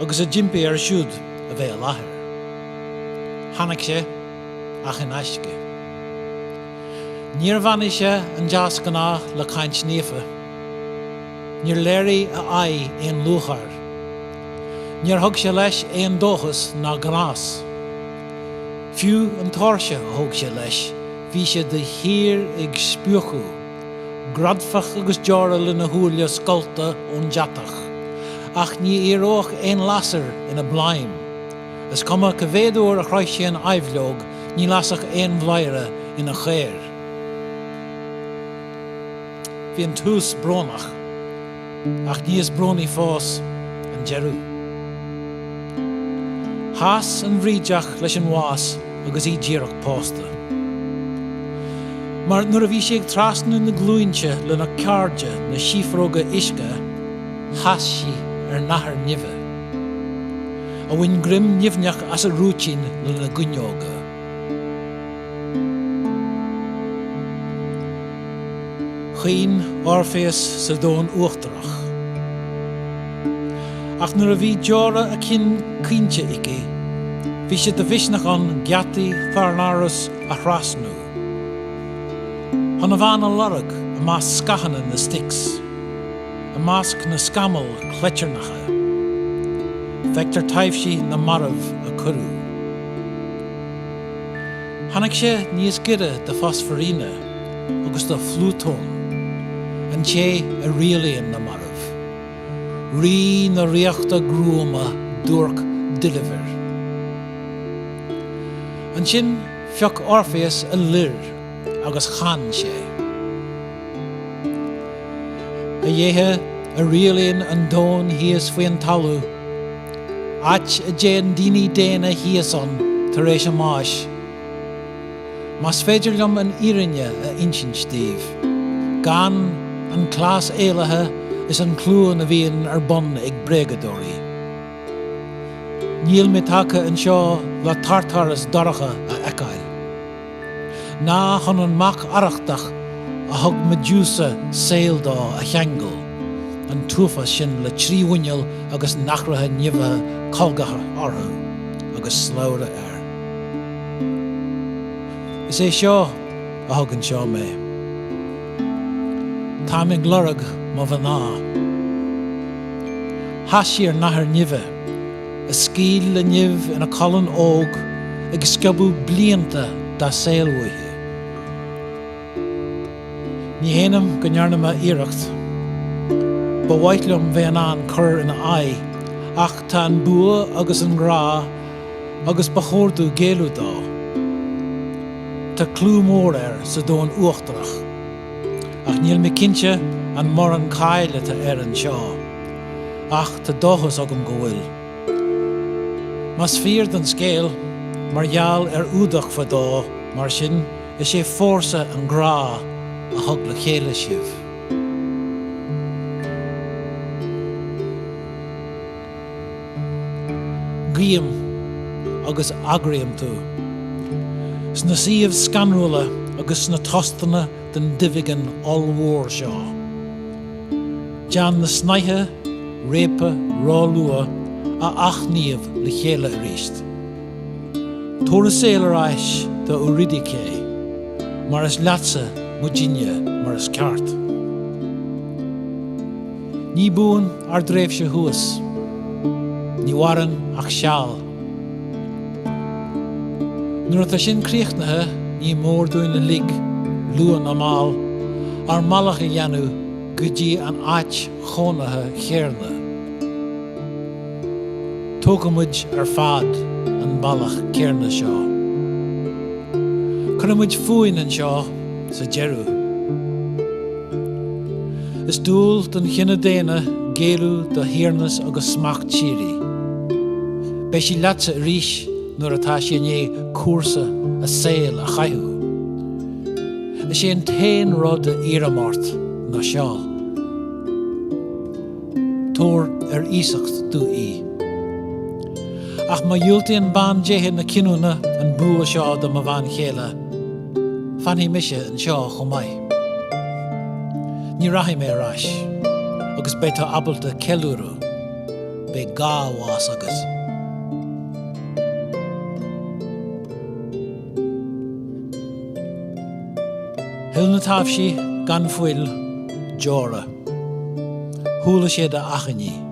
agus a d'impigh air siúd a bheith i láthair. Tháinig sé, ach in aisce. Níor bheannaigh sé an deasghnáth le caint naofa. Níor léirigh a aghaidh aon lúcháir. Níor thug sé leis aon dóchas ná gnás. Fiú an tóirse a thóg sé leis, bhí sé de shíor ag spriúchadh. Greadfach agus deora lena shúile scallta ón deatach. Ach ní éireodh aon lasair ina bladhm. Is cuma ca mhéad uair a chroith sé an aibhleog ní lasfadh aon bhladhaire ina chaor. Bhí an tús brónach. Ach níos brónaí fós, an deireadh. Chas an bhrídeach leis an bhás agus í díreach pósta. Mar nuair a bhí sí ag trasnú na gcluainte lena cairde, na síofróga uisce, chas sí ar nathair nimhe, a bhain greim nimhneach as a rúitín lena goineoga. Chaoin Orpheus sa domhan uachtarach. Ach nuair a bhí deora a cinn caointe aici, bhí sé de mhisneach ann geataí Thaenarus a thrasnú chun a bhean a lorg i measc scáthanna na Styx, i measc na scamall cleitearnach a bhfeictear taibhsí na marbh a cuireadh. Tháinig sé níos gaire do Phroserpina agus do Phlútón, an té a rialaíonn na mairbh, rí na ríochta gruama duairc doilbhir. Ansin phioc Orpheus a lir agus chan sé. A dhéithe a rialaíonn an domhan thíos faoin talamh. áit a dtéann daoine daonna síos ann tar éis a mbáis. Más féidir liom an fhírinne a insint daoibh, gan an cleas éalaithe is an chluain a bhíonn ar bun ag bréagadóirí, níl mé tagtha anseo le Tartarus dorcha a fheiceáil. Ná chun an mac arrachtach a thug Medusa saol dó a cheangal an t-uafás sin le trí mhuineál agus nathracha nimhithe colgacha orthu agus slabhra air. Is é seo a thug anseo mé. Táim ag lorg mo mhná. Chas sí ar nathair nimhe. a scaoil le nimh ina colainn óg ag sciobadh blianta dá saol uaithi. Ní shéanaim go ndearna mé iarracht, ba mhaith liom bheith in ann cur ina aghaidh, ach tá an bua ag an ngrá agus ba chóir domh géilleadh dó. Tá clú mór air sa domhan uachtarach, ach níl mé cinnte an mór an cáil atá air anseo. ach tá dóchas agam go bhfuil. Más fíor don scéal, mar gheall ar fhuadach fadó, mar sin, is é fórsa an ghrá a thug le chéile sibh. Guím agus agraím tú. Sna suímh scanrúla agus sna tostanna den duibheagán ollmhór seo. Déan na snáithe réabtha róluath a athshníomh le chéile arís. Tabhair an saol ar ais do Eurydice mar is leatsa muidinne mar is ceart. Ní buan ár dtréimhse thuas. Ní mhaireann ach seal. Nuair atá sin críochnaithe, ní mór dúinn uilig, luath nó mall, ár mbealach a dhéanamh go dtí an áit chónaithe chéarna. Tógfaidh muid ar fad an bealach céarna seo. Cuirfidh muid fúinn anseo sa deireadh. Is dual don chine daonna géilleadh do thiarnas agus smacht síoraí. Beidh sí leatsa arís nuair atá sí i ndiaidh cúrsa a saoil a chaitheamh. Is é an t-aon rud a iarraim ort ná seo. Tabhair ar iasacht domh í. Ach má dhiúltaíonn bandéithe na cinniúna an bua seo do mo bhean chéile, Fanfaidh mise anseo chomh maith. Ní rachaidh mé ar ais agus beidh tú ábalta ceiliúradh. Beidh dhá bhás agat. Shil na taibhsí gan fuil deora. Chuala siad a achainí.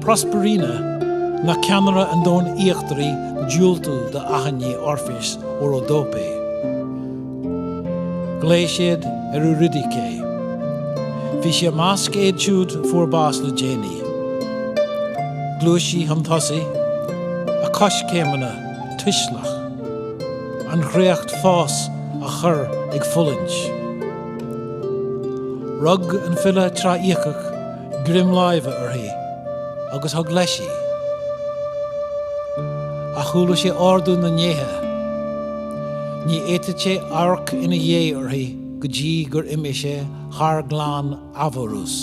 Prosperina, ná ceannaire an domhain íochtaraigh diúltú do achainí Orpheus ó Rhodope. Ghlaoigh siad ar Eurydice. Bhí sí i measc iad siúd a fuair bás le déanaí. Ghluais sí chun tosaigh, a coiscéimeanna tuisleach, an chréacht fós á chur ag fulaingt. Rug an file Tráiciach greim láimhe uirthi agus thug leis í. Ach chuala sé ordú na ndéithe. Ní fhéadfadh sé amharc ina dhiaidh uirthi go dtí gur imigh sé thar Ghleann Avernus.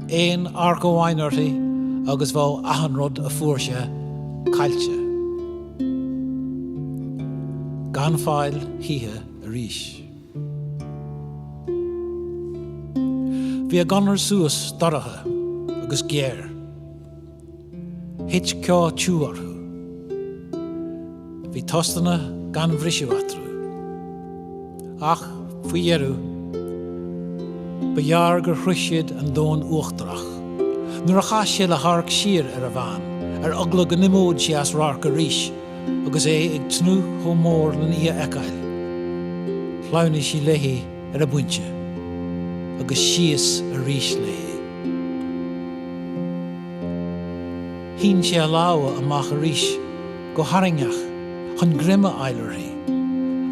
Aon amharc amháin uirthi agus bheadh achan rud a fuair sé caillte. Gan fáil choíche arís. Bhí a gconair suas dorcha agus géar. Thit ceo tiugh orthu. Bhí tostanna gan bhriseadh eatarthu. Ach, faoi dheireadh, ba ghearr gur shroich siad an domhan uachtarach. Nuair a chas sé le hamharc siar ar a bhean, ar eagla go n-imeodh sé as radharc arís, agus é ag tnúth chomh mór len í a fheiceáil. Shleamhnaigh sí léi ar an bpointe, agus síos arís léi. Shín sé a lámha amach arís go harraingeach chun greim a fháil uirthi,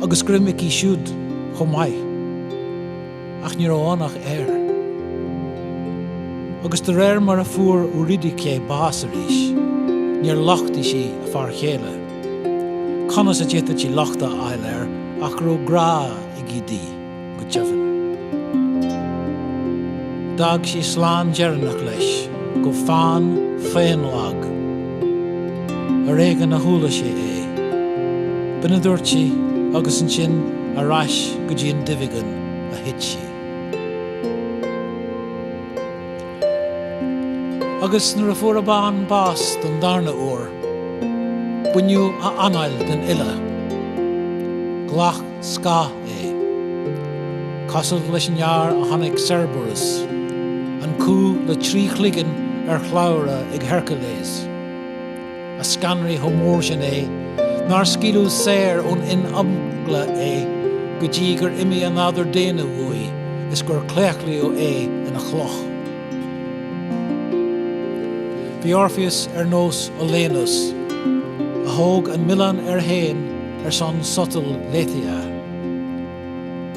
agus greim aici siúd chomh maith. Ach ní raibh ann ach aer. Agus de réir mar a fuair Eurydice bás arís, níor lochtaigh sí a fear céile. Conas a d'fhéadfadh sí locht a fháil air ach go raibh grá aige di go deimhin? D'fhág sí slán deireanach leis go fann faonlag. Ar éigean a chuala sé é. B'in a dúirt sí agus ansin ar ais go dtí an duibheagán a thit sí. Agus nuair a fuair a bhean bás don darna huair, baineadh a anáil den fhile. Ghlac. scáth é. Cosúil leis an fhear a chonaic Cerberus, an cú le trí chloigeann ar shlabhra ag Hercules, a scanraigh chomh mór sin é nár scaoileadh saor ón imeagla é go dtí gur imigh a nádúr daonna uaidh is gur claochlaíodh é ina chloch. Bhí Orpheus ar nós Olenus, a thóg an milleán air féin ar son sotal Lethaea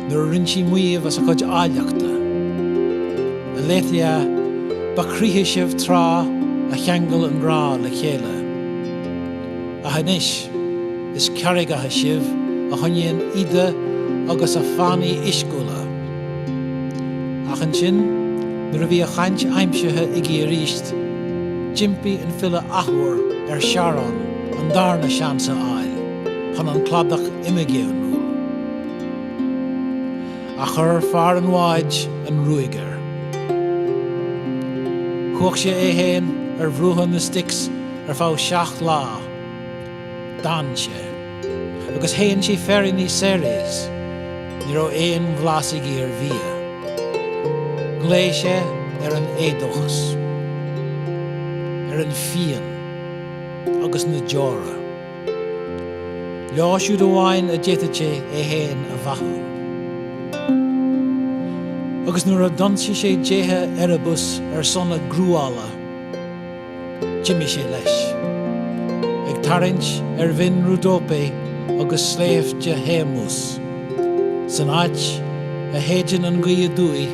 nuair a rinne sí maíomh as a cuid áilleachta, A Lethaea, ba chroíthe sibh tráth a cheangail an grá le chéile, ach anois is carraigeacha sibh a choinníonn Ida agus a fánaí uisciúla. Ach ansin, nuair a bhí a chaint aimsithe aige arís, d'impigh an file athuair ar Charon, an darna seans a fháil chun an cladach imigéiniúil ach chuir fear an bháid an ruaig air. Chuach sé é féin ar bhruacha na Styx ar feadh seacht lá, d'fhan sé, agus shéan sé féiríní Ceres, ní raibh aon bhlas aige ar bhia. Ghlaoigh sé ar an éadóchas, ar an phian. agus na deora. Leo siúd amháin a d'fhéadfadh sé é féin a bheathú. Agus nuair a d'ionsaigh sé déithe Erebus ar son a gcruála, d'imigh sé leis, ag tarraingt ar bhinn Rhodope agus sléibhte Haemus, san áit a shéideann an gaoth aduaidh,